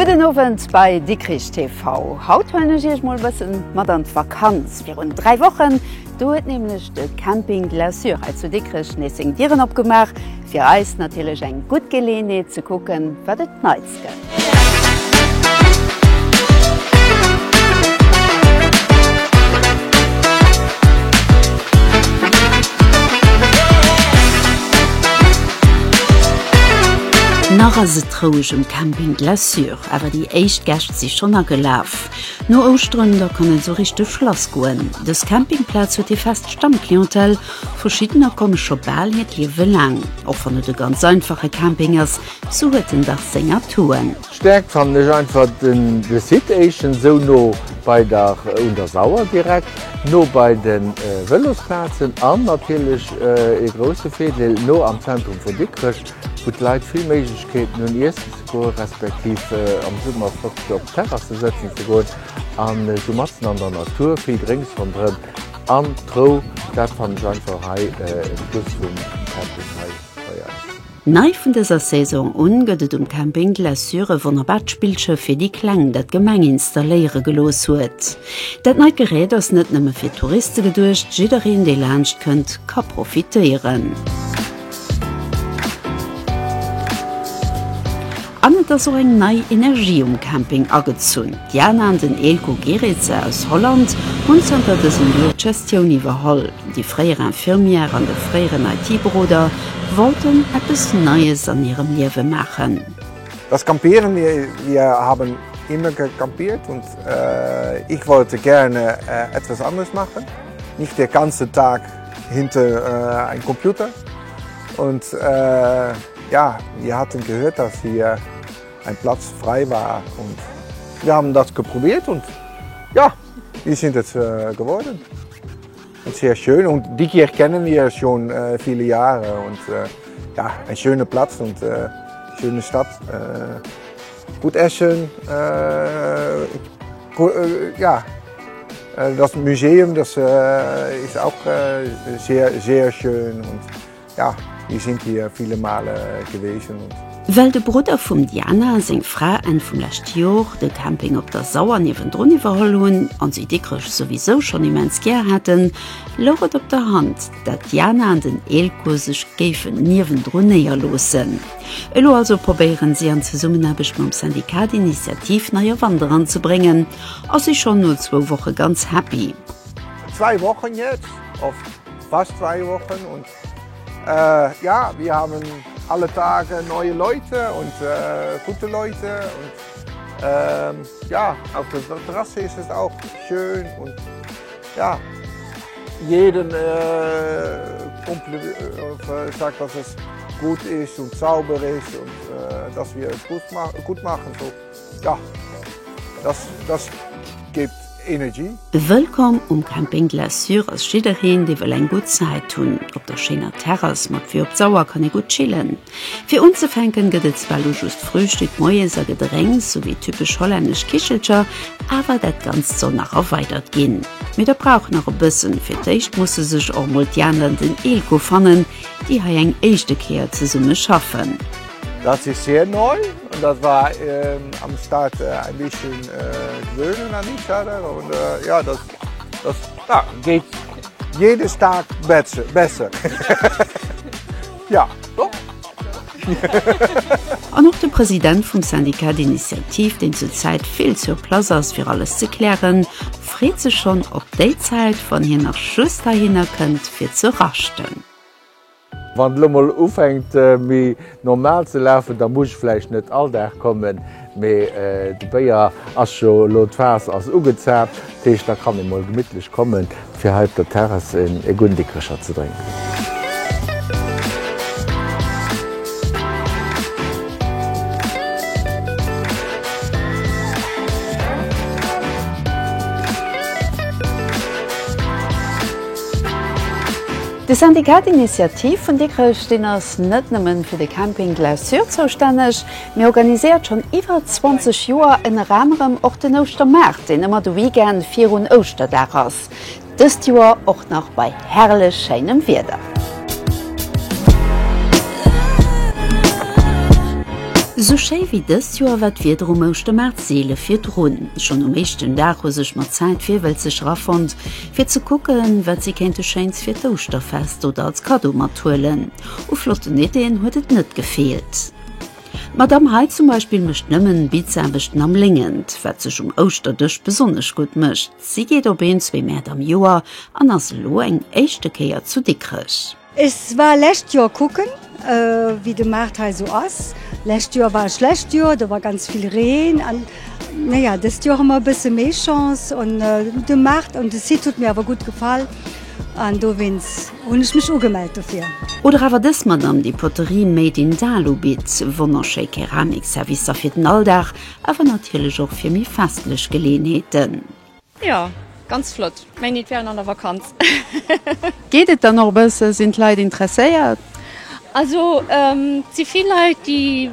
Gudden Owend bei Dikrich TV. Haut huelen ech Iech mol e bëssen mat an d'Vakanz. Virun dräi Wochen Do huet nämlech de Camping de la Sûre hei zu Dikrech nees seng Dieren opgemaach. Fir eis natierlech eng gutt Geleeënheet ze kucken, wat et Neits gëtt. Nach ass et roueg um Camping de la Sûre, awer déi éischt Gäscht si schonn agelaf. No Ouschteren da kann et sou richteg lass goen. Dës Campingplaz huet ee fest Stammclientèle, verschiddener komme scho bal hiert Liewe laang. Och wann et e ganz einfache Camping ass, sou huet en dach seng Atouen. Stäerkt fannen ech einfach de Site, éischtens esou no bei der un der Sauer, direkt no bei de Vëlosplazen an natierlech ee grousse Virdeel no am Zentrum vu Dikrech. wou d'Leit vill Méiglechkeeten hunn iessen ze goen, respektiv am Summer flott op Terrasse sëtzen ze goen an esou matzen an der Natur, vill Drénks ronderëm an d'Rou, dat fannen ech einfach hei en Plus vum Camping hei bei eis. Nei vun dëser Saison un gëtt et um Camping de la Sûre e wonnerbart Spillschëff fir déi Kleng, dat d'Gemeng installéiere gelooss huet. Dat neit Gerät ass net nëmme fir Touriste geduecht, jiddereen dee laanscht kënnt ka profitéieren. An et ass och eng nei Energie um Camping agezunn. D'Jana an den Eelco Geretse aus Holland hunn zanter dësem Joer d'Gestioun iwwerholl. Déi fréier Infirmière an de fréieren IT-Beroder wollten eppes Neies an hirem Liewe maachen. Das Campieren, Wir haben immer gecampiert und ich wollte gerne etwas anderes machen, nicht den ganzen Tag. Hinter äh, ein Computer und äh, ja, wir hatten gehört, dass hier ein Platz frei war und wir haben das geprobiert und ja, wir sind jetzt äh, geworden. Und sehr schön und die Kirche kennen wir schon äh, viele Jahre und äh, ja, ein schöner Platz und äh, schöne Stadt. Äh, Gutt Äschen, ja das Museum das ist auch sehr sehr schön und ja wir sind hier viele Male gewesen. Well de Brudder vum Diana a seng Fra Enn vum leschte Jor de Camping op der Sauer niewendrun iwwerholl hunn a si Dikrech souwisou schonn immens gär haten, louch et op der Hand, dat d'Diana an den Eelco sech géifen niewendrun néierloossen. Elo also probéieren si an Zesummenaarbecht mam Syndicat d'Initiativ nei a Wander anzebréngen a si schonn no zwou Woche ganz happy. Zwei Wochen jetzt, oft fast zwei Wochen und ja, wir haben alle Tage neue Leute und gute Leute und ja, auf der Terrasse ist es auch schön und. Ja, jeden Kompliment sagt, dass es gut ist und sauber ist und dass wir es gut machen. So, ja, das, das gibt Energy. Wëllkomm um Camping Glaçure ass jiddereen, dee wëll eng gutt Zäit hunn. Op der schéiner Terrass mat Vue op d'Sauer kann ee gutt chillen. Fir unzefänken gëtt et zwar lo just Frühstück, Moies a Gedrénks, sou wéi typesch hollännesch Kichelcher, awer dat Ganzt soll nach erweidert ginn. Mee dat brauch nach e bëssen, fir d'éischt musse sech och mol d'Jana an den Eelco fannen, déi hei eng éischte Kéier zesumme schaffen. Dat si Sien Neu an dat war am Start en bisschen gewöhnen an die Stadler an jo dat geet jedes Dag besser. Jo, jo. An och de President vum Syndicat d'Initiative, deen zur Zäit vill sur place ass fir alles ze klären, freet sech schonn op déi Zäit, wann hien nach just heihinner kënnt fir ze raschten. Wann et elo mol ufänkt méi normal ze lafen, da muss ech vläicht net all Dag kommen. Mee de Béier ass jo elo, d'Faass ass ugezaapt, dat heescht, da kann ee mol gemittlech kommen, fir hei op der Terrass e gudden Dikrecher ze drénken. De Syndicat d'Initiative vun Dikrech, deen ass net nëmmen fir de Camping Glaçure zoustänneg, Mir organiséiert schonn iwwer 20 Joer ënner anerem och den Ouschtermaart, deen ëmmer de Weekend virun Ouschterdag ass. Dëst Joer och nach bei herrlech schéinem Wieder. Sou schéi wéi dëst Joer war d'Wieder um Ouschtermaart seele virdrun. Schonn um éischten Dag hu sech mat Zäit Virwëlzeg rafonnt, fir ze kucken, wat si kéinte Schéins fir d'Ouschterfest oder als Kaddo mathuelen. U flotten Iddien huet et net gefeelt. D'Madame hei zum Beispill mécht nëmmen Bizaarbechten am Léngent, wat sech um Ouschterdësch besonnesch gutt mécht. Si geet op een, zwee Mäert am Joer an ass elo eng éischte Kéier zu Dikrech. Ech war lescht Joer kucken, wéi de Maart hei esou ass. Lescht Joer war e schlecht Joer, do war ganz vill Reen. An naja, dëst Joer hu mer e bësse méi Chance. An de Maart an de Site hutt mir awer gutt gefall an dowéinst. Hun ech mech ugemellt dofir. Oder awer dës Madame déi Poterie made in Dalu bitt, wonnerschéi Keramik Servicer fir den Alldag, awer natierlech och fir méi festlech Geleeënheeten. Jo ganz flott, meng Nitt wären an der Vakanz. Geet et dann och e bësse? Sinn d'Leit interesséiert? Also et si vill Leit déi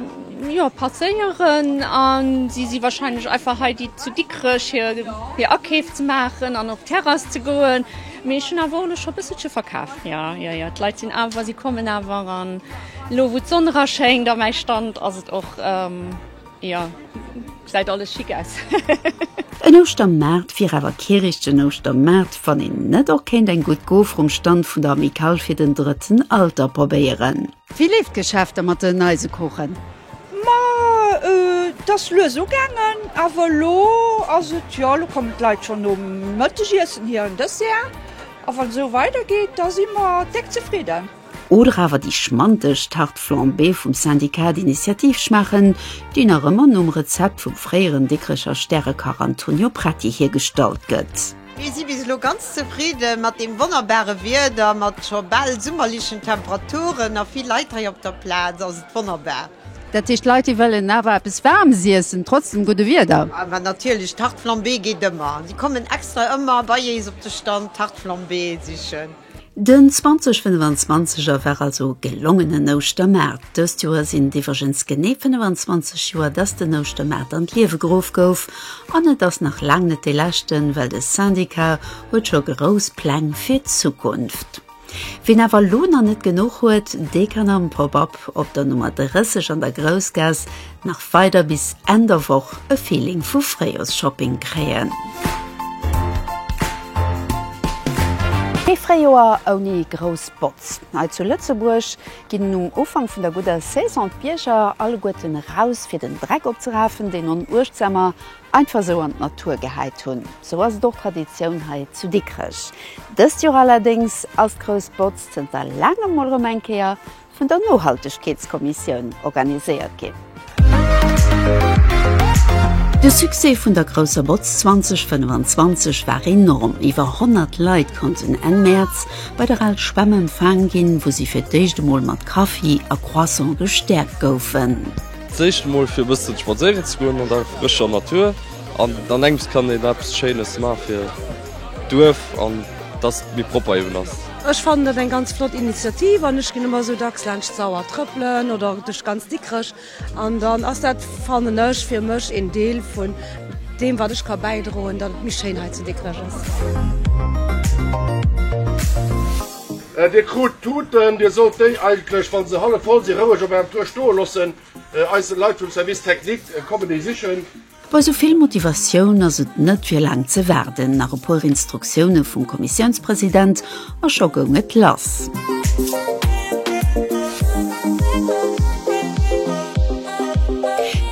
jo passéieren an si si wahrscheinlech einfach hei déi zu Dikrech hir Akeef ze maachen an op d'Terrass ze goen. Mee ech hunn awer och elo scho e bësselche verkaf. Jo, jo, jo, d'Leit sinn awer, si kommen awer. An elo, wou d'Sonn eraschéngt a mäi Stand, ass et och, jo, gesäit alles schick aus. En Ouschtermaart wier awer kee richtegen Ouschtermaart, wann een net och kéint eng gutt Goe vrum Stand vun der Amicale fir den Drëtten Alter probéieren. Wéi leeft d'Geschäfter mat den Eisekuchen? Ma et ass lues ugaangen, awer elo ass et, jo elo kommen d'Leit schonn nom Mëttegiessen hir an Dessert, a wann et esou weider geet, da si mer déck zefridden. Oder awer déi schmanteg Tarte flambée vum Syndicat d'Initiative schmaachen, déi nach ëmmer nom Rezept vum fréieren Dikrecher Stärekach Antonio Pretti hiergestallt gëtt. Mir si bis elo ganz zefridde mat deem wonnerbare Wieder, mat scho bal summerlechen Temperaturen a vill Leit hei op der Plaz ass et wonnerbar. Dat heescht, d'Leit, déi wëllen awer eppes Waarmes iessen, trotz dem gudde Wieder? Awer natierlech, Tarte flambée geet ëmmer. Si kommen extra ëmmer bei éis op de Stand Tarte flambée sichen. Den 2025er war also e gelongenen Ouschtermaart. Dëst Joer sinn et iwwregens genee 25 Joer, dass den Ouschtermaart an d'Liewe geruff gouf. An et ass nach laang net dee leschten, well de Syndicat huet scho grouss Pläng fir d'Zukunft. Ween awer elo nach net genuch huet, dee kann am Pop-Up op der Nummer 30 an der Groussgaass Nach weider bis Enn der Woch e Feeling vu Fréijoersshopping kréien. Ee Fréijoer ouni grouss Botz. Hei zu Lëtzebuerg ginn um Ufank vun der gudder Saison d'Bierger alleguerten eraus, fir den Dreck opzerafen, deen en Uechtsamer einfach esou an d'Natur gehäit hunn. Esou ass et och Traditioun hei zu Dikrech. Dëst Joer allerdéngs ass d'grouss Botz zënter laangem mol erëm eng Kéier vun der Nohaltegkeetskommissioun organiséiert ginn. De Succès vun der Grousser Botz 2025 war enorm, iwwer 100 Leit konnten Enn Mäerz bei der Al Schwämm empfaang ginn, wou si fir d'éischt emol mat Kaffi a Croissant gestäerkt goufen. D'éischt emol fir e bëssen spadséieren ze goen an der frëscher Natur an dann engems kann een eppes Schéines maache fir. Duerf an dass et méi propper eben ass. Ech fannen et eng ganz flott Initiativ an ech ginn ëmmer esou dacks laanscht d'Sauer trëppelen oder duerch ganz Dikrech an dann ass dat, fannen ech, fir mech een Deel vun deem wat ech ka bäidroen, datt et méi schéin hei zu Dikrech ass. Dir krut d'Tuten, Dir sollt déi eigentlech, wa se hallef voll sinn, roueg op ärem Tour stoe loossen. Eis Leit vum Service Technique kommen déi sichen. Bei sou vill Motivatioun ass et net fir laang ze waarden, nach e puer Instruktioune vum Kommissiounspresident a scho goung et lass.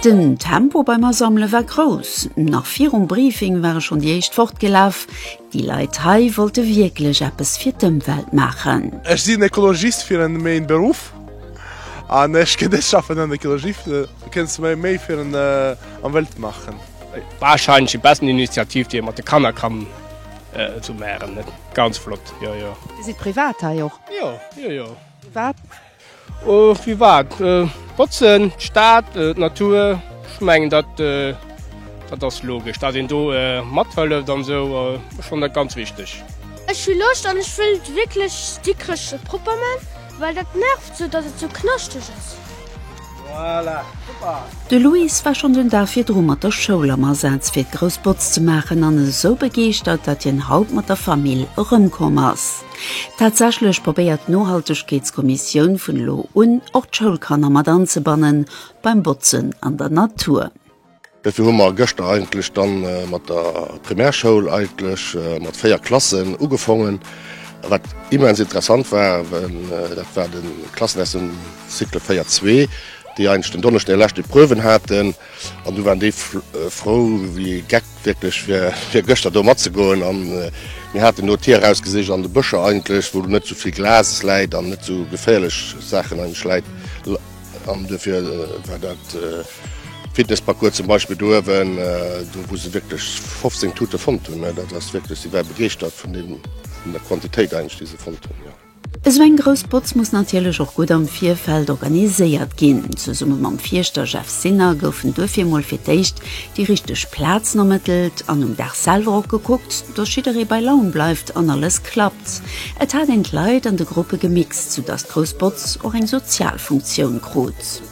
Den Tempo beim Asammele war grouss, nach virum Briefing ware schonn déi éischt fortgelaf. Déi Leit hei wollte wierklech eppes fir d'Ëmwelt maachen. Ech sinn Ekologist fir en méin Beruff an ech gin dech schaffen an Ekologie kënns mei méi fir en Emwelt machen. Wahrscheinlech déi besten Initiativ déi een mat de Kanner kann zu meren. Ganz flott, jo jo. Dir sidd privat hei och? Jo, jo jo. Wat Oh wéi war et? Botzen, d'Stad, d'Natur, ech mengen dat dat ass logesch, dat een do mathëlleft an esou, ech fannen dat ganz wichteg. Ech hu Loscht an ech wëll wierklech Dikrech propper man, well dat nervt esou dat et esou knaschteg ass. Voilà, super! De Luis war schonn den Dag virdru mat der Schoul am Asaz fir d'Groussbotz ze maachen an esou begeeschtert dat hien haut mat der Famill erëmkomm ass. Tatsächlech probéiert d'Nohaltegkeetskommissioun vun elo un och d'Schoulkanner mat anzebannen beim Botzen an der Natur. Dofir hu mer gëschter eigentlech dann mat der Primärschoul eigentlech mat 4 Klassen ugefongen, wat immens interessant war. Dat waren d'Klassen aus dem Cycle 4 zwee, déi eigentlech den Donneschden hir lescht Epreuven haten. An du waren déi frou wéi ee Geck wierklech fir gëschter do matzegoen. An mir haten do d'Tier erausgesicht an de Bëscher eigentlech, wou net esou vill Glas läit an net esou geféierlech Saachen eigentlech läit. An duerfir war dat Fitnessparcours zum Beispill do uewen, do wou se wierklech 15 Tute fonnt hunn, dat ass wierklech, si ware begeeschtert vun deem, vun der Quantitéit eigentlech déi se fonnt hunn. Esou eng grouss Botz muss natierlech och gutt am Virfeld organiséiert ginn. Zesumme mam Fierschter Jeff Sinner goufen duerfir mol fir d'éischt déi richteg Plazen ermëttelt an um Dag selwer och gekuckt, dass jidderee bei Laun bleift an alles klappt. Et hat een d'Leit an de Gruppe gemixt, soudass d'grouss Botz och eng sozial Funktioun krut.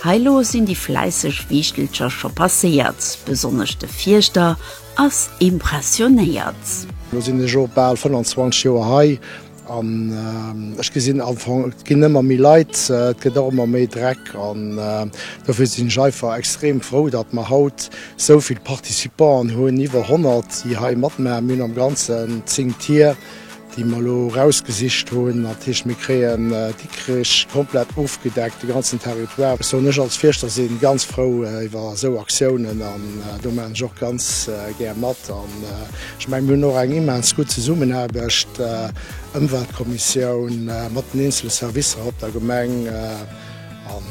Hei lo sinn déi fläisseg Wiichtelcher scho passéiert, besonnesch de Fierschter ass impressionéiert. Elo sinn ech scho bal 25 Joer hei an ech gesinn am Fong, et ginn ëmmer méi Leit, et gëtt och ëmmer méi Dreck. An dofir sinn ech einfach extrem frou, datt mer haut esou vill Participanten hunn, iwwer 100, déi hei matmaachen. Mir hunn am Ganzen 10 Tier, déi mer elo erausgesicht hunn, dat heescht, mir kréien Dikrech komplett ofgedeckt, de ganzen Territoire. Ech soen, ech als Fierschter si ganz frou iwwer esou Aktiounen an do maachen ech och ganz gär mat. An ech mengen, mir hunn och eng immens gutt Zesummenaarbecht, Ëmweltkommissioun mat den eenzele Servicer op der Gemeng. An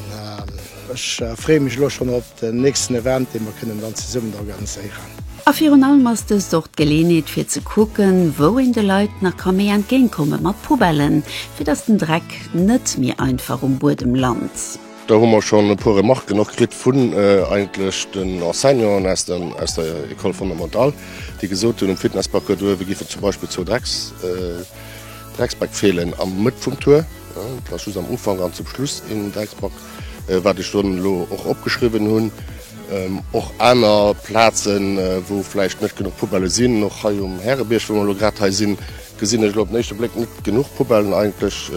ech freeë mech elo schonn op. Den nächsten Event, dee mer kënnen dann zesummen organiséieren. A virun allem ass dëst och d'Geleeënheet fir ze kucken, wou een de Leit nach ka méi entgéintkomme mat Poubellen, fir datt den Dreck net méi einfach um Buedem lant. Do hu mer schonn e puer Remarquen och kritt vun eigentlech den Enseignanten aus der École fondamentale, déi gesot hunn, um Fitnessparcours doruewe géifen zum Beispill zwou Dreckspäck feelen, am Mëtt vum Tour, dat ass just am Ufank, an zum Schluss een Drecksback. wat ech dann elo och opgeschriwwen hunn, och aner Plazen, wou vläicht net genuch Poubellë sinn. Och hei um Härebierg, wou mer elo grad hei sinn, gesinn ech elo op den éischte Bléck net genuch Poubellen. Eigentlech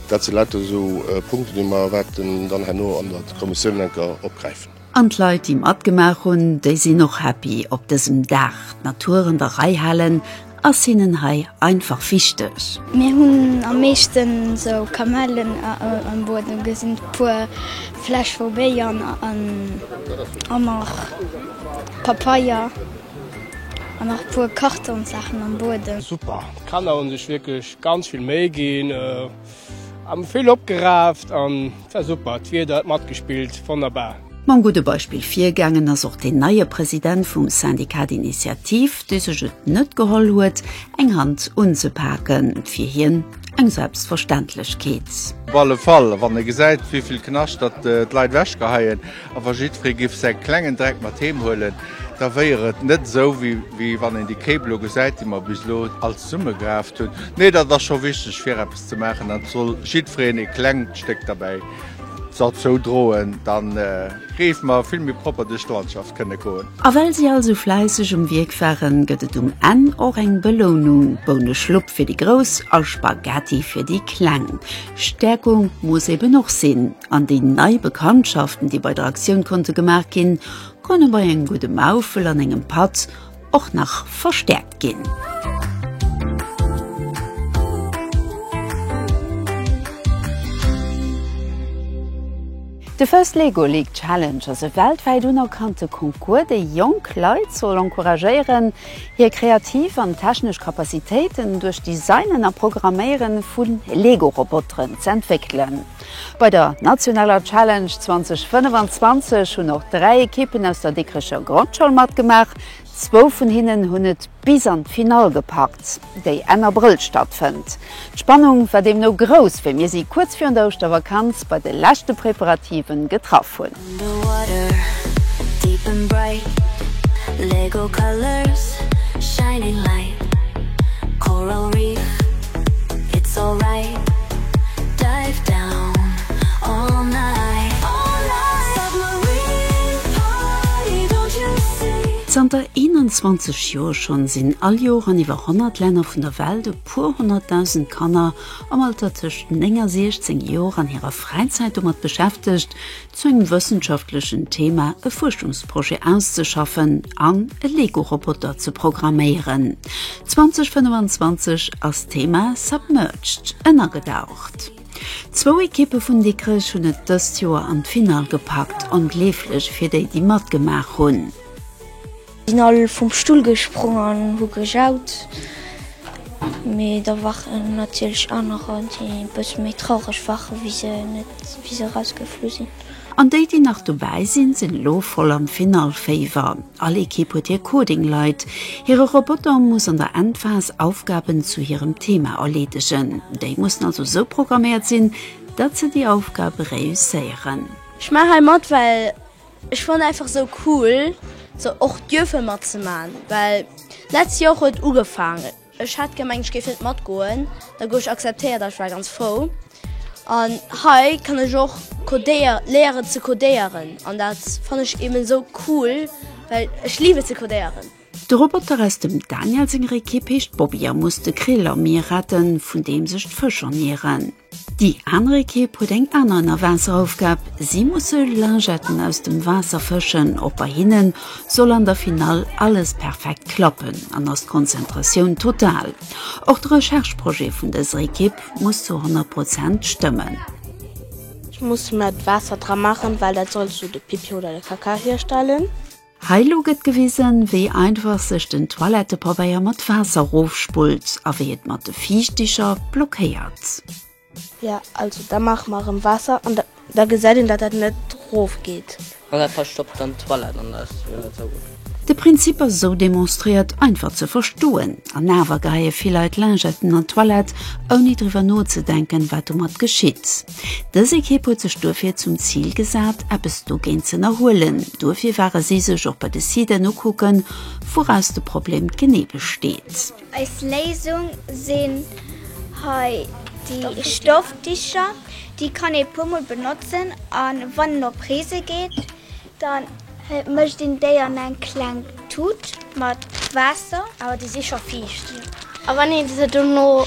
dat si lauter esou Punkten, déi mer wäerten dann herno an der Kommissioun eng Kéier opgräifen. An d'Leit, déi matgemaach hunn, déi sinn och happy op dësem Dag. D'Natur an der Rei halen ass hinnen hei einfach wichteg. Mir hunn am meeschten esou Kamellen am Buedem gesinn, e puer Fläsch vu Béier a nach Papeier an nach e puer Kartonsaachen am Buedem. Super! D'Kanner hu sech wierklech ganz vill Méi ginn. Am vill opgeraaft an war super, d'Wieder huet matgespillt, wonnerbar! Mam gudde Beispill virgaangen ass och deen neie President vum Syndicat d'Initiative, dee sech et net geholl huet, eng Hand unzepaken, fir hien eng Selbstverständlechkeet. Op alle Fall, wann e gesäit, wéi vill Knaschtert d'Leit ewechgeheien. A wa jiddweree giff säi klengen Dreck mat heem huelen, da wéier et net esou, wéi wann een déi Kéip elo gesäit, déi mer bis elo all zesummegeraaft hunn. Nee, dat ass scho wichteg, fir eppes ze maachen, an et soll jiddwereen ee klengt Stéck derbäi derzou droen, da géife mer vill méi propper duerch d'Landschaft kënne goen. A well si all sou fläisseg um Wierk waren, gëtt et um Enn och eng Belounung, Bouneschlupp fir déi Grouss a Spaghetti fir déi Kleng. Stäerkung muss eben och sinn. An déi nei Bekanntschaften, déi bei der Aktioun konnte gemaach ginn, konne bei engem gudde Maufel an engem Patt och nach verstäerkt ginn. De First Lego League Challenge ass e weltwäit unerkannte Concours, dee jonk Leit soll encouragéieren, hir kreativ an technesch Capacitéiten duerch d'Designen a Programméiere vu Lego-Roboteren z'entwéckelen. Bei der nationaler Challenge 2025 hunn och dräi Ekippen aus der Dikrecher Grondschoul matgemaach. Zwou vun hinnen hunn et bis an d'Finall gepackt, déi Enn Abrëll stattfënnt. D'Spannung war deemno grouss, wéi mir si kuerz virun der Ouschtervakanz bei de leschte Preparativen getraff hunn. Zanter 21 Joer schonn sinn all Jor an iwwer 100 Länner vun der Welt e puer honnertdausend Kanner am Alter tëscht 9 a 16 Jor an hirer Fräizäit domat beschäftegt, zu engem wëssenschaftlechen Thema e Fuerschungsprojet auszeschaffen an e Lego-Roboter ze programméieren. 2025 ass d'Thema Submerged, ënnergedaucht. Zwou Ekippe vun Dikrech hunn et dëst Joer an d'Finall gepackt, ongleeflech fir déi, déi matgemaach hunn. Sinn all vum Stull gesprong an hu gejaut. Mee da waren natierlech anerer, déi e bësse méi traureg waren, wéi se net, wéi se erausgeflu sinn. An déi, déi nach dobäi sinn, sinn elo voll am Finallféiwer. All Ekipp huet hir Coding-Leit. Hire Roboter muss an der Endphas Aufgaben zu hirem Thema erleedegen. Déi mussen also sou programméiert sinn, datt se déi Aufgabe réusséieren. Ech maache hei mat, well Ech fannen einfach sou cool sou och dierfen mat ze maan well letzt Joer huet ugefaangen ech haat gemengt ech géif net mat goen da gouf ech akzeptéiert an ech war ganz frou an hei kann ech och codéier léieren ze codéieren an daat fannen ech eben sou cool well ech liiwen et ze codéieren. De Roboter aus dem Daniel senger Ekipp heescht Bobby a muss de Krill am Mier retten, vun deem sech d'Fësch ernieren. Déi aner Ekipp huet eng aner Ënnerwaasseraufgab, si musse Lingetten aus dem Waasser fëschen. Och bei hinnen soll an der Finall alles perfekt klappen an ass d'Konzentratioun total. Och de Recherche-Projet vun dëser Ekipp muss zu 100 Prozent stëmmen. Ech muss mer d'Waasser dra maachen, well dat soll esou de Pipi oder de Kaka hierstellen. Hei lo gëtt gewisen wéi einfach sech den Toilettepabeier mat Waasser rofspullt a wéi et mat de Fiichticher blockéiert. Jo also da maache mer erëm Waasser an da gesäit een dat dat net rof geet. An dat verstoppt dann d'Toilette an dat ass jo net sou gutt. De Prinzip ass sou demonstréiert einfach ze verstoen an awer geheie vill Leit Lingetten an d'Toilette ouni driwwer nozedenken wat domat geschitt. Dës Ekipp huet sech duerfir zum Zil gesat, eppes dogéint z'ënnerhuelen. Duerfir ware si sech och bei de Siten ukucken, wouraus de Problem genee besteet. Eis Léisung sinn hei déi Stoffdicher. Déi kann ee puermol benotzen a wann en op Reese geet, Dann mëscht een déi an eng kleng Tut mat Waasser. Awer déi si scho fiicht. A wann ee se dono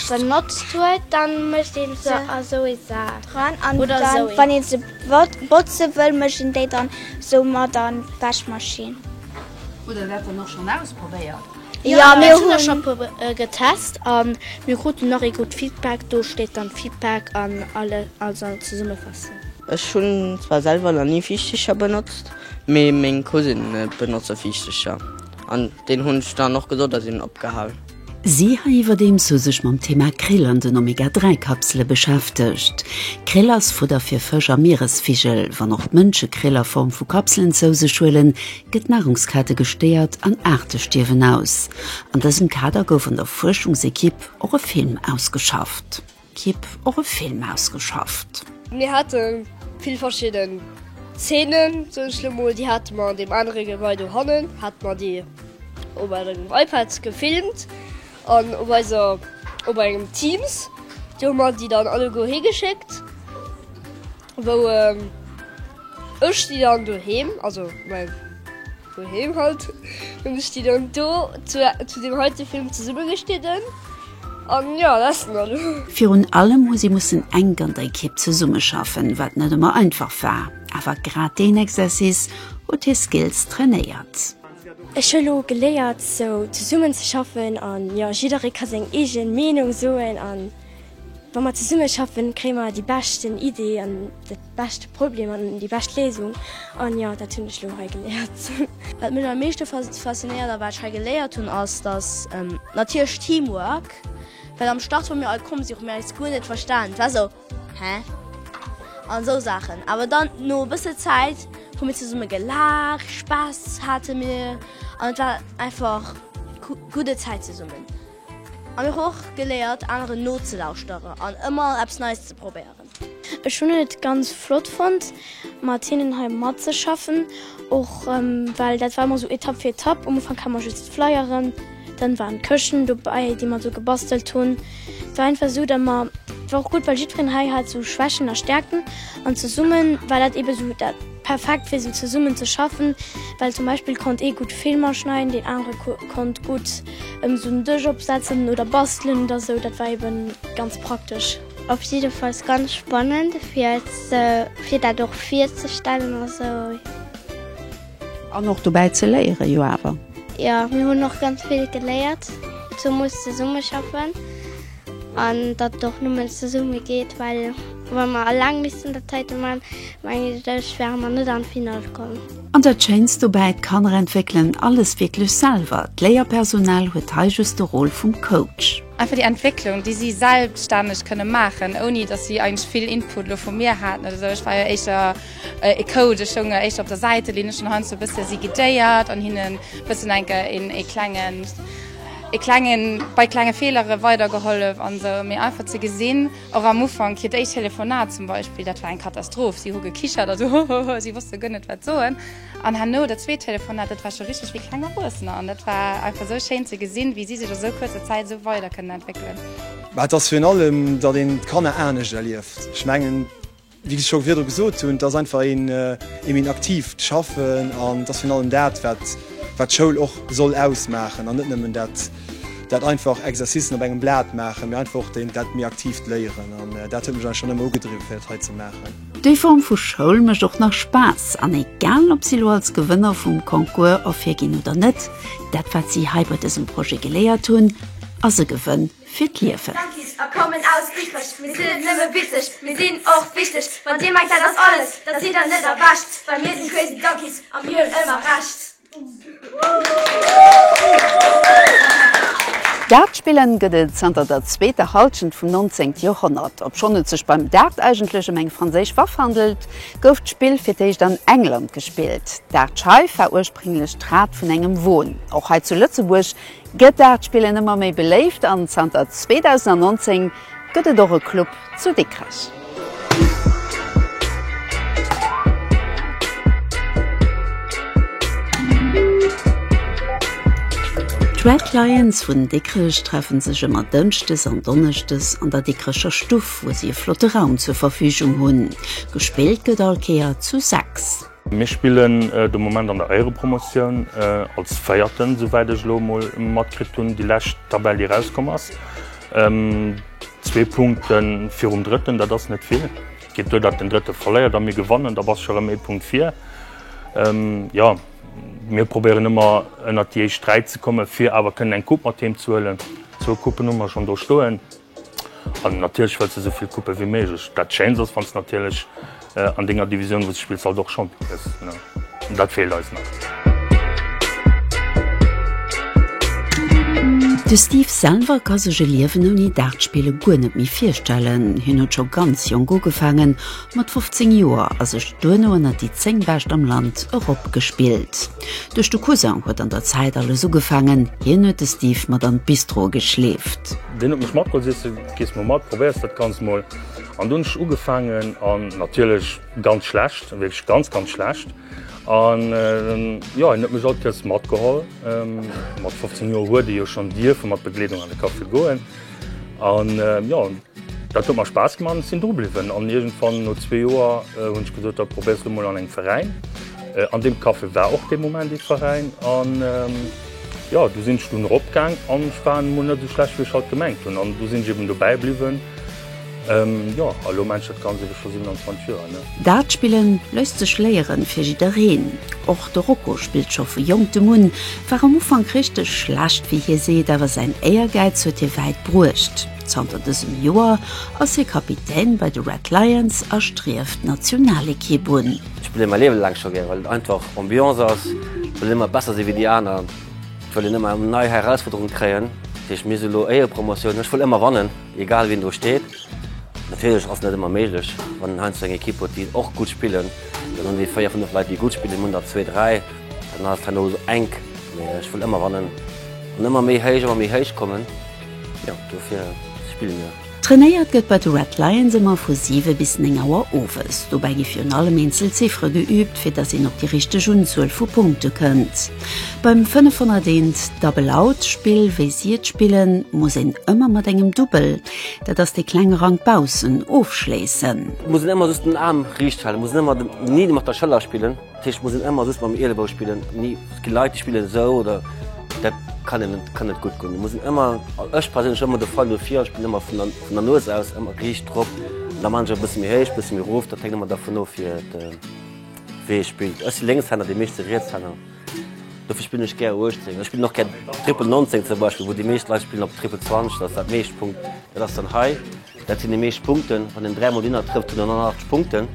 benotzt huet, da mëscht ee se a esou ee Sak dran. An wann ee se botze wëll, mëscht een déi dann esou mat an d'Wäschmaschinn. Hutt der dat dann och schonn ausprobéiert? Jo mir hunn scho puer getest an mir kruten och ee gutt Feedback, do steet dann Feedback an alle also Zesummefassung. Ech hunn zwar selwer nach ni Viischtecher benotzt, mee meng Cousine benotze Viischtecher an deen hunn ech dann och gesot a sinn opgehal. Si hei iwwerdeems hu sech mam Thema Krill an den Omega 3 Kapsele beschäftegt. Krill ass Fudder fir Fësch a Mieresvigel. Wann och d'Mënsche Krill a Form vu Kapselen zou sech huelen, gëtt d'Nahrungskette gestéiert an Aarte stierwen aus. An dësem Kader gouf an der Fuerschungsekipp och e Film ausgeschafft. Kipp och e Film ausgeschafft. Mir hate vill verschidden Zeenen, sot ech elo mol, déi hate mer an deem anere Gebai do hannen, hate mer déi op engem iPad gefilmt an op eiser, op engem Teams. Do hu mer déi dann alleguer higeschéckt. wou ech déi dann doheem, also mäi doheem halt, hunn ech déi dann do zu deem heite Film zesummegeschnidden an jo, dat ass dann elo. Virun allem hu si mussen enk an der Ekipp zesummeschaffen, wat net ëmmer einfach war, awer grad deen Exercice huet hir Skills trainéiert. Ech hu lo geléiert sou zesummenzeschaffen an jo, jidderee ka seng eege Meenung soen an. Wa mer zesummeschaffen, kréie mer déi beschten Idee an de beschte Problem an déi bescht Léisung. An jo, dat hunn ech elo hei geléiert. Wat mech am meeschte faszinéiert a wat ech hei geléiert hunn, ass dass natierlech Teamwork, well am Start wou mir all komm sinn, hu mir eis guer net verstan, et war esou hä? an esou Saachen. Awer dann no e bësse Zäit hu mir zesumme gelaacht, Spaass hate mir an et war einfach gudde Zäit zesummen. An ech hu och geléiert aneren nozelauschteren an ëmmer eppes Neies ze probéieren. Ech hunn et ganz flott fonnt mat hinnen hei matzeschaffen, och well dat war ëmmer esou Etapp fir Etapp. Um Ufank hat mer just d'Flyeren, dann waren d'Këschten dobäi déi mer do gebastelt hunn. Et war einfach esou dat mer, war och gutt well jiddwereen hei hat sou Schwächen a Stäerkten an zesummen war dat eben esou dat. Perfekt fir sou zesummen ze schaffen, well zum Beispill konnt ee gutt Filmer schneiden, deen anere konnt gutt sou en Dësch opsetzen oder bastelen oder sou, dat war eben ganz praktesch. Op jiddefalls ganz spannend fir dat och virzestellen a sou. An och dobäi ze léieren jo awer. Jo, mir hunn och ganz vill geléiert, zemols zesummeschaffen. An datt et och nëmmen zesumme geet, well wa mer alleng missten dat heiten man, mengen ech wäre mer net an d'Finall komm. An dat Schéinst dobäi, d'Kanner entwéckelen alles wierklech selwer, d'Léierpersonal huet hei just de Rôle vum Coach. Einfach déi Entwécklung, déi si selbstänneg kënne maachen, ouni datt si eigentlech vill Input elo vu mir haten oder esou. Ech war jo éischter e Coach, ech stoung jo éischter op der Säitelinn, ech hunn heiansdo e bësse si guidéiert an hinnen e bëssen enke ee klengen, e klengen bei klenge Fehlere weider gehollef an esou mee einfach ze gesinn och am Ufank hiert éischt Telefonat zum Beispill dat war eng Katastroph, si hu gekichert a sou hohoho, si wosste guer net wat soen an herno dat zweet Telefonat dat war scho richteg wéi kleng Erwuessener an dat war einfach esou schéin ze gesinn wéi si sech a sou kuerzer Zäit esou weider kënnen entwéckelen. Mä et ass virun allem, datt een d'Kanner anescht erlieft, ech mengen. Wéi ech scho virdru gesot hunn, et ass einfach een een aktiivt Schaffen an et ass virun allem dat, wat wat d'Schoul och soll ausmaachen an net nëmmen dat dat einfach Exercicen op engem Blat maachen, mee einfach och deen dat méi aktiivt Léieren. An dat huet mech eigentlech schonn ëmmer ugedriwwe fir dat hei ze maachen. Déi Form vu Schoul mécht och nach Spaass an egal, ob si elo als Gewënner vum Concours ervirginn oder net, dat wat si hei bei dësem Projet geléiert hunn, ass e Gewënn fir d'Liewen. Junkies a kommen aus Dikrech, mir sinn net nëmme witzeg, mir sinn och wichteg. Wann dir mengt dat ass alles, da sidd der net erwächt, well mir sinn Crazy Junkies a mir hunn ëmmer Recht. Dartspillen gëtt et zanter der zweeter Halschent vum 19. Joerhonnert. Obschonn et sech beim Dart eigentlech ëm eng franséisch Waff handelt, gouf d'Spill fir d'éischt an England gespillt. D'Dartscheif war ursprénglech d'Rad vun engem Won. Och hei zu Lëtzebuerg Gëtaartspillen ëmmer méi beléift an zanter 2019 gëtt et och e Club zu Dikrech. D'Red Lions vun Dikrech treffe sech ëmmer Dënschdes an Donneschdes an der Dikrecher Stuff, wou si e flotte Raum zur Verfügung hunn. Gespillt gëtt all Kéier zu sechs. Mir spillen de Moment an der Éierepromotioun als Véierten, souwäit ech elo emol matkritt hunn, déi lescht Tabell, déi erauskomm ass. Zwee Punkte virum Drëtten, dat ass net vill. Geet duer, datt den Drëtte verléiert a mir gewannen, da bass scho erëm ee Punkt vir. Jo, mir probéieren ëmmer ënnert déi éischt dräi ze kommen, fir awer kënnen eng Coupe mat heem ze huelen. Zwou Coupen hu mer schonn do stoen. An natierlech wëlls de sou vill Coupe wéi méiglech. Dat Schéinst ass, wann s de natierlech an denger Divisioun, wou s de spills, halt och Champion gëss. An dat feelt eis nach. De Steve selwer ka sech e Liewen ouni Dartspille guer net méi virstellen. Hien huet scho ganz jonk ugefaangen, mat 15 Joer, a sech duerno ënnert déi 10 Bescht am Land eropgespillt. Duerch de Cousin huet an der Zäit alles ugefaangen, hien huet de Steve mat an d'Bistro geschleeft. Deen huet mech matgeholl, seet se, gees mol mat, probéiers dat Ganzt mol. An dunn hunn ech ugefaangen an natierlech ganz schlecht, wierklech ganz, ganz schlecht. An jo, hien huet mech all d'Këscht matgeholl. Mat 15 Joer huet ee jo schonn dierfe mat Begleedung an de Café goen an jo. Dat huet mer Spaass gemaach an ech sinn dru bliwwen. An iergendwann no zwee Joer hunn ech gesot, da probéiers du mol an engem Veräin. An deem Café war och dee Moment ee Veräin. An jo, du sinn ech dunn erop gaang an ech war emol net esou schlecht wéi ech halt gemengt hunn. An du sinn ech eben dobäi bliwwen. Jo, a lo mengt dat Ganzt eben scho 27 Joer. Dart spillen léisst sech léieren, fir jiddereen. Och de Rocco spillt scho vu Jonktem un, war am Ufank richteg schlecht wéi hie seet, awer säin Éiergäiz huet hie wäit bruecht. Zanter dësem Joer ass hie Kapitän bei de Red Lions a strieft d'Nationalekipp un. Ech spille mäi Liewe laang scho gär, well et einfach Ambiance ass, well een ëmmer besser si wéi déi aner, well een ëmmer nei Herausfuerderunge kréien. Fir ech miess elo Éierepromotioun, ech wëll ëmmer wannen, egal wien do steet. Natierlech ass et net ëmmer méiglech, wann een heiansdo eng Ekipp huet, déi och gutt spillen, dann hunn déi véier, fënnef Leit, déi gutt spillen, hunn der zwee, dräi, dann ass et heiansdo enk. Mee ech wëll ëmmer wannen an ëmmer méi héich, ëmmer méi héich kommen. Jo, dofir spille mir. Trainéiert gëtt bei de Red Lions ëmmer vu 7 bis 9 Auer owes. Dobäi gi virun allem eenzel Ziffere geüübt, fir datt een op déi richteg Unzuel vu Punkte kënnt. Beim 501 Double Out Spill, wéi si et spillen, muss een ëmmer mat engem Dubbel, dat ass dee klenge Rank baussen, ofschléissen. Muss een ëmmer just den Aarm riicht halen, muss een ëmmer den Nidder mat der Schëller spillen. Ech muss en ëmmer just mam Elebow spillen. Et gi Leit déi spillen esou oder dat kann een net, kann net gutt goen. Et muss een ëmmer, ech perséinlech, ëmmer de Fall do vir a spillen ëmmer vun der, vun der Nues aus, ëmmer riicht drop. Da maachen ech e bësse méi héich, e bësse méi erof, dat hänkt ëmmer dervun of fir et, wéi ee spillt. Ech si Lénkshänner, déi meeschte Rietshänner, dofir spillen ech gär 18. Ech spillen och gär Triple 19 zum Beispill, wou déi meescht Leit spillen op Triple 20, dat ass dat meescht Punkt, dat ass dann hei. Dat sinn déi meescht Punkten. Wann een dräi mol Dinner trëfft, kritt een 108 Punkten.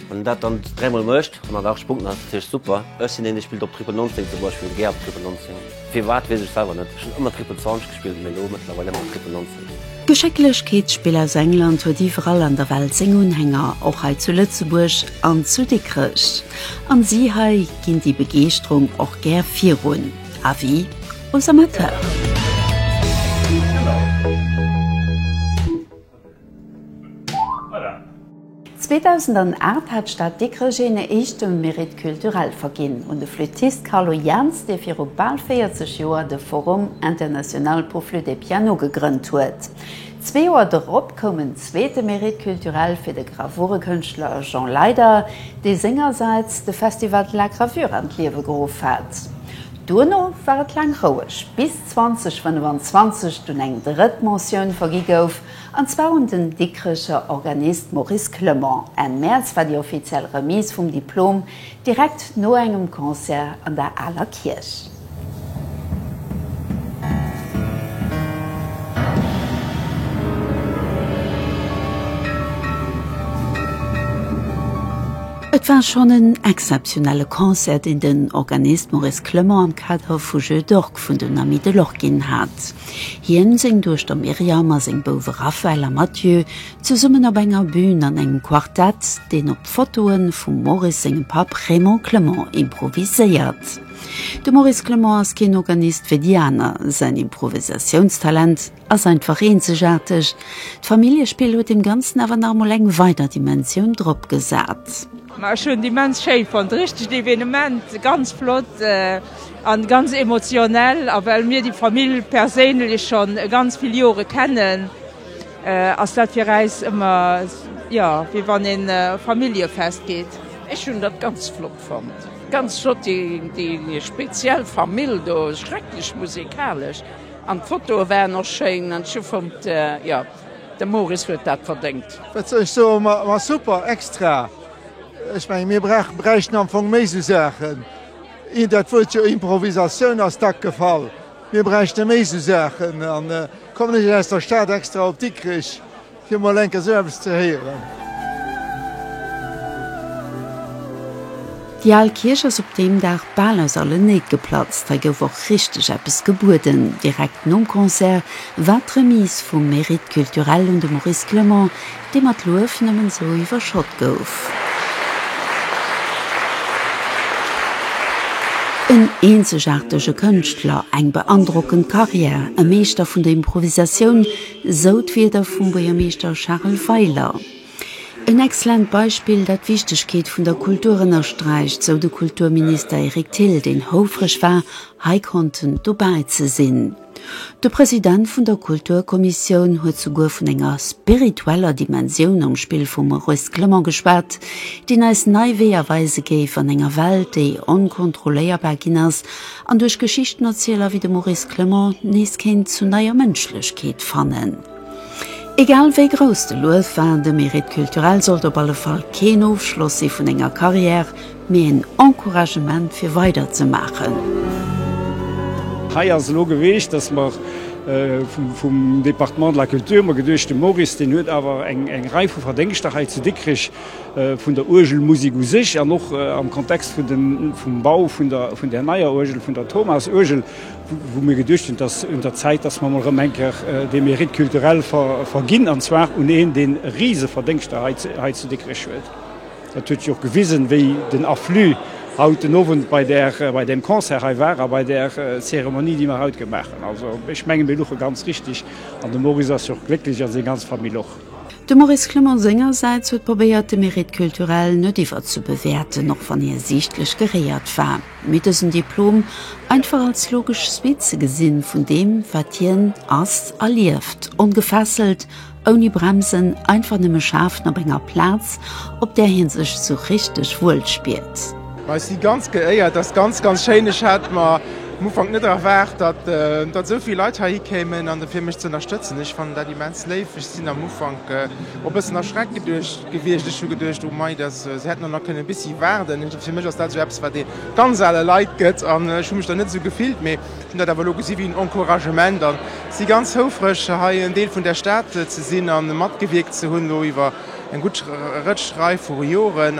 Wann een dat dann dräi mol mécht, 108 Punkten, dat ass natierlech super. Ech sinn een, dee spillt op Triple 19 zum Beispill, gär op Triple 19. Firwat, weess ech selwer net. Ech hunn ëmmer Triple 20 gespillt, mee elo mëttlerweil ëmmer op Triple 19. D'Geschécklechkeetsspill aus England huet iwwerall an der Welt seng Unhänger, och hei zu Lëtzebuerg an zu Dikrech. An si hei ginn déi Begeeschterung och gär virun. Avis. Aux amateurs. Voilà. 2008 hat d'Stad Dikrech een éischte Mérite culturel verginn un de Flüttist Carlo Jaans, dee viru bal 40 Joer de Forum international pour flûte et piano gegrënnt huet. Zwee Joer dorop koum en zweete Mérite culturel fir de Gravurekënschtler Jean Leyder, dee sengersäits de Festival de la gravure an d'Liewe geruff hat. Duerno war et laang roueg, bis 2025 dunn eng drëtt Mentioun vergi gouf, an zwar un den Dikrecher Organist Maurice Clement. Enn Mäerz war déi offiziell Remise vum Diplom, direkt no engem Concert an der Aler Kierch. Et war schonn en exzeptionelle Concert, deen den Organist Maurice Clement am Kader vu Jeux d'orques vun den Amis de l'Orque ginn hat. Hien, seng Duechter Myriam a seng Bouwe Raphaël a Mathieu, zesummen op enger Bün an engem Quartett, deen op d'Fotoe vum Maurice sengem Papp Raymond Clement improviséiert. De Maurice Clement ass keen Organist wéi déi aner. Säin Improvisatiounstalent. Ass einfach eenzegaarteg. D'Familljespill huet dem Ganzen awer nach emol eng weider Dimensioun drop gesat. Ma ech hunn et immens schéi fonnt, richtegt Evenement, ganz flott a ganz emotionell. A well mir déi Famill perséinlech schonn e ganz vill Jore kennen, ass dat fir äis ëmmer jo wéi wann een Familljefest geet. Ech hunn dat ganz flott fonnt, ganz flott déi speziell Famill do, schrecklech musikalesch. An d'Fotoe waren och schéin an ech hu fonnt, jo, de Moris huet dat verdéngt. Wat soll ech soen, ma super, extra. Ech mengen, mir bräichten am Fong méi sou Saachen. Ier dat Wuert jo Improvisatioun ass dack gefall. Mir bräichte méi sou Saachen. An kommen ech aus der Stad extra op Dikrich. Fir mol enker sou eppes ze héieren. Déi al Kierch ass op deem Dag bal aus allen Néit geplatzt. Hei gouf och richteg eppes gebueden. Direkt nom Concert war d'Remise vum Mérite culturel un de Maurice Clement, dee mat Luef nëmmen sou iwwerschott gouf. En eenzegaartege Kënschtler, eng beandrockend Karriär, e Meeschter vun der Improvisatioun, Sou d'Wierder vum Buergermeeschter Charel Weiler. En exzellent Beispill, dat d'Wichtegkeet vun der Kultur ënnersträicht, sou de Kulturminister Eric Thill, deen houfreg war, hei konnten dobäi ze sinn. De President vun der Kulturkommissioun huet souguer vun enger spiritueller Dimensioun am Spill vum Maurice Clement geschwat, deen eis nei Weeër weise géif an enger Welt, déi onkontrolléierbar ginn ass An duerch Geschichtenerzieler wéi de Maurice Clement nees kéint zu neier Mënschlechkeet fannen. Egal wéi grouss de Luef war, de Mérite culturel sollt op alle Fall keen Ofschloss si vun enger Carrière, mee en Encouragement fir weider ze maachen. Hei ass elo geweecht, dass mer vum Département de la Culture mer geduecht, de Maurice, deen huet awer eng Rei vu Verdéngschter hei zu Dikrech, vun der Uergelmusek u sech an och am Kontext vun den, vum Bau vun der, vun där neier Uergel, vun der Thomas-Uergel, wou mir geduecht hunn, dass un der Zäit, dass mer emol erëm eng Kéier dee Mérite culturel ver, verginn, an zwar un een, dee Riseverdéngschter hei, hei zu Dikrech huet. Dat huet sech och gewisen, wéi den Afflux haut den Owend bei där, bei deem Concert hei war a bei där Zeremonie, déi mer haut gemaach hunn. Also, ech menge mir luche ganz richtig an de Maurice ass jo och glécklech a seng ganz Famill och. De Maurice Clement sengersäits huet probéiert, de Mérite culturel net iwwerzebewäerten, och wann hie siichtlech geréiert war, mee dësen Diplom einfach als logesch Suite ze gesinn vun deem, wat hien ass a lieft, ongefesselt, ouni Bremsen, einfach nëmme schafen op enger Plaz, op där hie sech esou richteg wuel spiert. Ma ech si ganz geéiert, ass ganz ganz schéin. Ech hat mer um Ufank net erwaart, datt datt esou vill Leit heihi kéimen an fir mech ze ënnerstëtzen. Ech fannen dat immens léif. Ech sinn am Ufank och bëssen erschreckt geduecht gewiescht. Ech hu geduecht, oh mei, datt se hätten och nach kënne bissi waarden. Fir mech ass dat esou eppes wat ee ganz ale Leit gëtt an ech hu mech dann net esou gefillt. Mee ech hunn dat awer elo gesi wéi en Encouragement an si ganz houfreg hei en Deel vun der Stad ze sinn an matgewierkt ze hunn elo iwwer eng gutt Rëtsch Rei vu Joren.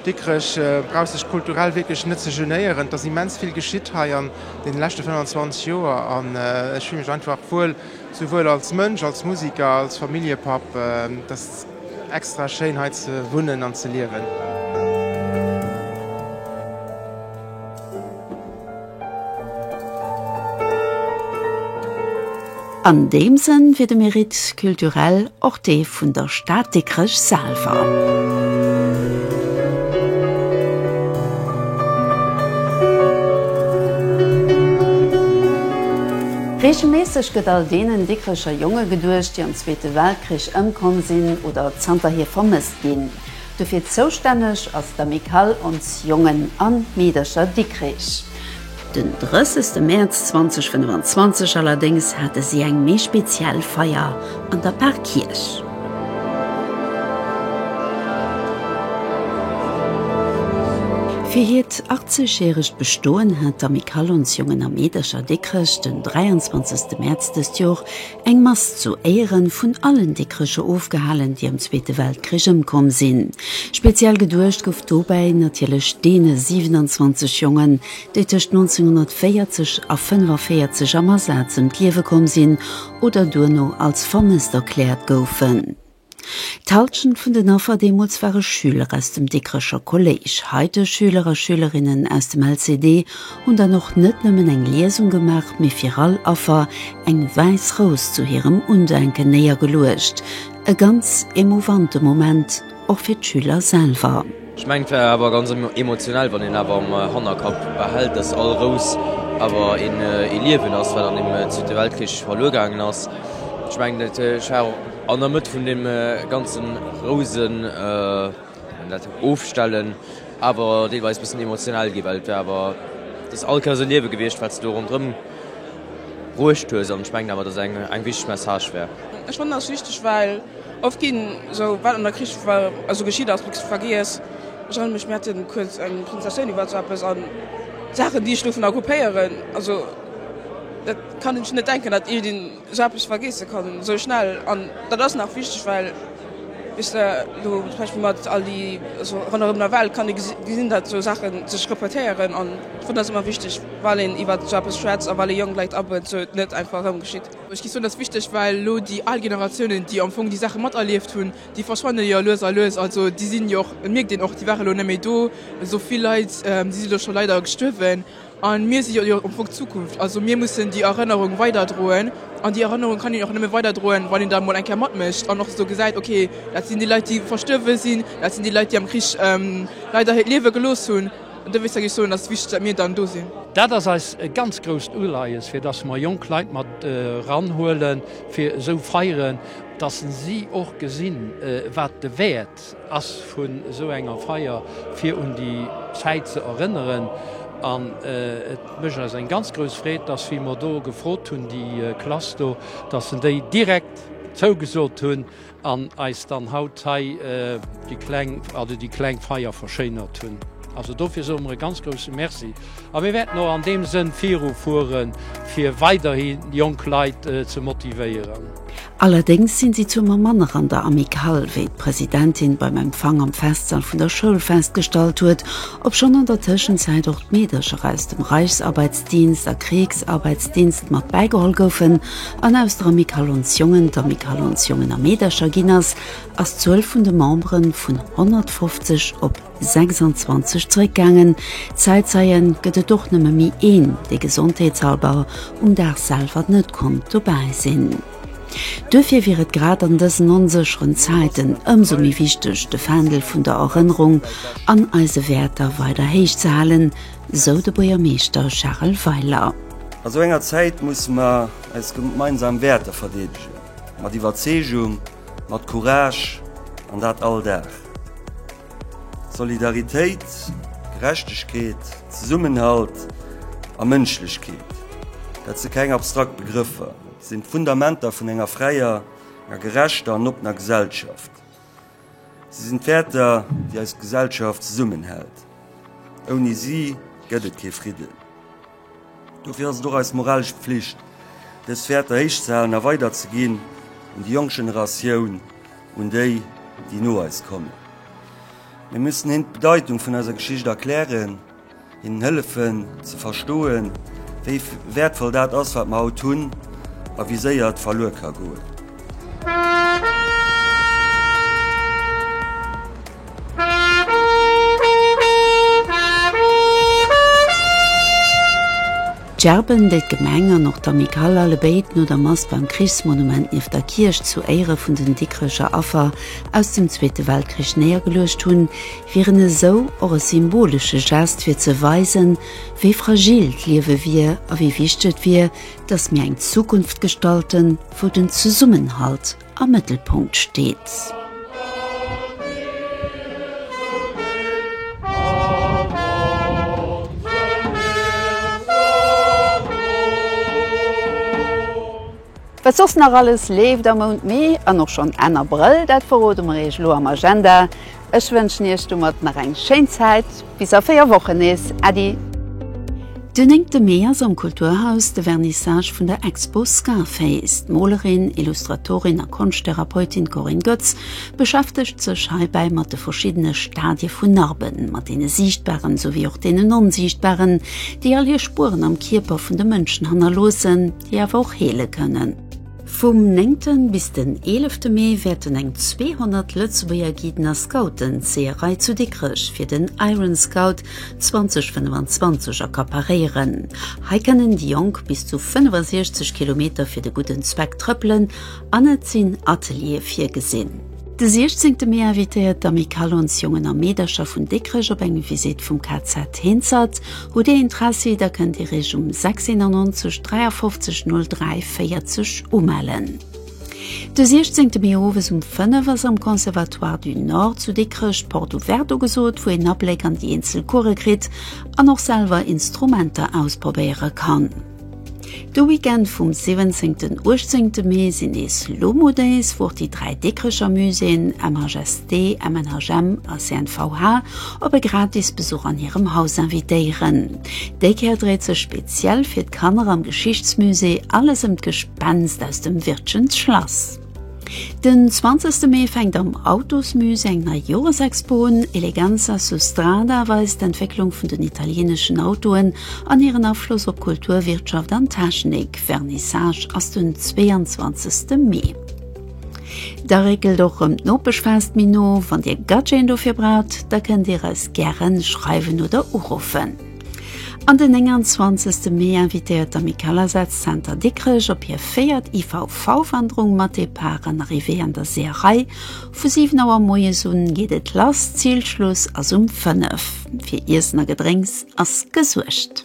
Dikrech brauch sech kulturell wierklech net ze genéieren. Et ass immens vill geschitt hei an deene leschte 25 Joer an ech fille mech einfach wuel, souwuel als Mënsch, als Musiker, als Familljepapp. Et ass extra schéin hei ze wunnen an ze liewen. An deem Sënn wier de Mérite culturel och dee vun der Stad Dikrech selwer. Reegelméisseg gëtt all deenen Dikrecher Jonge geduecht, déi am Zweete Weltkrich ëmkomm sinn oder zanterhier vermësst ginn. Dofir zoustänneg ass d'Amicale Ons Jongen a Meedercher Dikrech. Den 30 Mäerz 2025 allerdéngs hate si eng méi speziell Feier an der Parkierch. Fir hiert 80 järegt Bestoen hat d'Amicale Ons Jongen a Meedercher Dikrech den 23 Mäerz dëst Jor Eng Mass zu Éieren vun allen Dikrecher ofgehalen, déi am Zweete Weltkrich ëmkomm sinn. Speziell geduecht gouf dobäi natierlech deene 27 Jongen, déi tëscht 1940 a 45 am Asaz ëm d'Liewe komm sinn oder duerno als vermësst erkläert goufen. D'Halschent vun den Affer deemools ware Schüler aus dem Dikrecher Kolléisch. Heite Schüler a Schülerinnen aus dem LCD hunn dann och net nëmmen eng Liesung gemaach, mee fir all Affer eng wäiss Rous zu hirem Undenken néiergeluecht. E ganz emouvante Moment och fir d'Schüler selwer. Ech mengen et war awer ganz emotionell wann een awer am Hannerkapp behält dass all Rous awer een ee Liewen ass wat an dem zweete Weltkrich verluer gaangen ass. Ech mengen et ech war och an der Mëtt vun deem ganzen Rousen dat ofstellen awer deelweis bëssen emotionell gi well et war awer dass all Kär sou Liewe gewiescht wat s de do ronderëm bruecht hues an ech mengen awer dass eng eng wichteg Message war. Ech fannen ass wichteg well Oft ginn esou wat an der Krich war esou geschitt ass nix vergiess. Ech erënnere mech mir haten kuerz eng Presentatioun iwwer esou eppes an d'Saachen déi ech dovun occupéieren also dat kann een sech net denken dat iergend een esou eppes vergeesse kann esou schnell an dat ass nach wichteg well wéis de elo zum Beispill mat all déi esou ronderëm der Welt kann ee gesinn dat esou Saachen sech repetéieren an ech fannen dat ass ëmmer wichteg well een iwwert esou eppes schwätzt a well ee jonk Leit abuet esou et net einfach erëm geschitt. Ech géif soen, dat ass wichteg, well elo déi al Generatiounen, déi am Fong déi Saache materlieft hunn, déi verschwanne jo lues a lues. Also déi sinn jo och, et mierkt een och, déi ware lo net méi do. Esou vill Leit, déi si jo scho leider gestuerwen. A mir si jo am Fong d'Zukunft. Also mir mussen déi Erënnerung weiderdroen. An déi Erënnerung kann een och nëmme weiderdroen, wann een da emol eng Kéier matmécht an och esou gesäit, ok, dat sinn déi Leit, déi verstuerwe sinn, dat sinn déi Leit, déi am Krich leider hiert Liewe gelooss hunn. An dofir kann ech soen, dass et wichteg ass, datt mir dann do sinn. Dat ass eis e ganz grousst Uleies, fir dass mer jonk Leit mat eranhuelen, fir esou Feieren, dass si och gesinn, wat de Wäert ass vun esou enger Feier, fir un déi Zäit ze erënneren. An et mécht eis eng ganz grouss Freed, dass, wéi mer do gefrot hunn, déi Klass do, dass se déi direkt zougesot hunn. An eis dann haut hei déi kleng, also déi kleng Feier verschéinert hunn. Also dofir soe mer e ganz grousse Merci. A mir wäerten och an deem Sënn viru fueren, fir weiderhi jonk Leit ze motivéieren. Allerdéngs sinn si zwou Mer manner an der Amicale, wéi d'Presidentin beim Empfang am Festsall vun der Schoul festgestallt huet, obschonn an der Tëschenzäit och d'Meedercher aus dem Reichsarbeitsdienst a Kriegsarbeitsdienst mat bäigeholl goufen, an aus der Miquelonsjongen der Miquelonsjongen a meedercher ginn ass, ass d'Zuel vun de Memberen vun 150 op 26 zeréckgaangen. Zäitzeien gëtt et och nëmme méi een, dee gesondheetshalber um Dag selwer net konnt dobäi sinn. Duerfir wier et grad an dësen onsécheren Zäiten ëmsou méi wichteg, de Fändel vun der Erënnerung an eise Wäerter weider héich ze halen, sou de Buergermeeschter Charel Weiler. A sou enger Zäit musse mer eis gemeinsam Wäerter verdeedegen, mat Iwwerzeegung, mat Courage, an dat all Dag. Solidaritéit, Gerechtegkeet, Zesummenhalt a Mënschlechkeet, dat si keng abstrakt Begrëffer, sinn d'Fundamenter vun enger fräier, enger gerechter an oppener Gesellschaft. Si sinn d'Wäerter, déi eis Gesellschaft zesummenhält. Ouni si gëtt et kee Fridden. Dofir ass et och eis moralesch Pflicht, dës Wäerter héichzehalen a weiderzeginn un déi jonk Generatioun, un déi, déi no eis kommen. Mir mussen hinnen d'Bedeitung vun eiser Geschicht erklären. Hinnen hëllefen ze verstoen, wéi wäertvoll dat ass, wat mer haut hunn a wéi séier et verluer ka goen. D'Gerben, déi d'Gemeng an och d'Amicale allebéid no der Mass beim Krichsmonument nieft der Kierch zu Éiere vun den Dikrecher Affer aus dem Zweete Weltkrich néiergeluecht hunn, wieren esou och e symbolesche Gest, fir ze weisen, wéi fragil d'Liewe wier a wéi wichteg et wier, dass mir eng Zukunft gestalten, wou den Zesummenhalt. am Mëttelpunkt steet. Wat soss nach alles leeft am Mount Mee an och schonn Enn Abrëll, dat verrode mer Iech elo am Agenda. Ech wënschen iech domat nach eng schéin Zäit, bis a 4 Wochen nees. Äddi! Den 9 de Mee ass am Kulturhaus de Vernissage vun der Expo Scarface. D'Molerin, Illustratorin a Konschttherapeutin Corinne Goetz beschäftegt sech heibäi mat de verschiddene Stadie vun Narben, mat deene siichtbaren souwéi och deenen onsiichtbaren, déi all hir Spueren am Kierper vun de Mënschen hannerloossen, déi awer och heele kënnen. Vum néngten bis den eelefte Mee wäerten eng 200 Lëtzebuerger Guiden a Scouten d'Seeërei zu Dikrech fir den Iron Scout 2025 accaparéieren. Hei kënnen déi Jonk bis zu 65 Kilometer fir de gudden Zweck trëppelen an et sinn Ateliere virgesinn. De 16 Mee invitéiert d'Amicale ons Jongen a Meedercher vun Dikrech op eng Visite vum KZ Hinzert. Hutt Dir Interessi, da kënnt Dir Iech um 691 53 03 40 umellen. De 16 Mee owes um 5 ass am Conservatoire du Nord zu Dikrech d'Porte ouverte ugesot, wou een Abléck an déi eenzel Course kritt an och selwer Instrumenter ausprobéiere kann. De Weekend vum 17 an 18 Mee sinn nees Lomo Days, wou och déi dräi Dikrecher Muséeën, MHST, MNHM a CNVH, op e gratis Besuch an hirem Haus invitéieren. Déi Kéier dréit sech speziell fir d'Kanner am Geschichtsmusée alles ëm d'Gespenst aus dem Wirtschens Schlass. Den 20. Mee fänkt am Autosmüse eng nei Joresexpo un. Eleganza Sustrada weist d'Entwécklung vun den italieneschen Autoen an hiren Afloss op Kultur, Wirtschaft an Technik. Vernissage ass den 22. Mee. Da réckelt och rëm d'Nopeschfest méi no. Wann Dir Gadgeten dofir braucht, da kënnt Dir eis gären schreiwen oder uruffen. An den 29 Mee invitéiert d'Amicalasazzenter Dikrech op hir véiert IVV-Wanderung mat Depart an Arrivée an der Seeërei. Vu 7 Auer moies un geet et lass, Zilschluss ass um 5. Fir Iessen a Gedrénks ass gesuergt.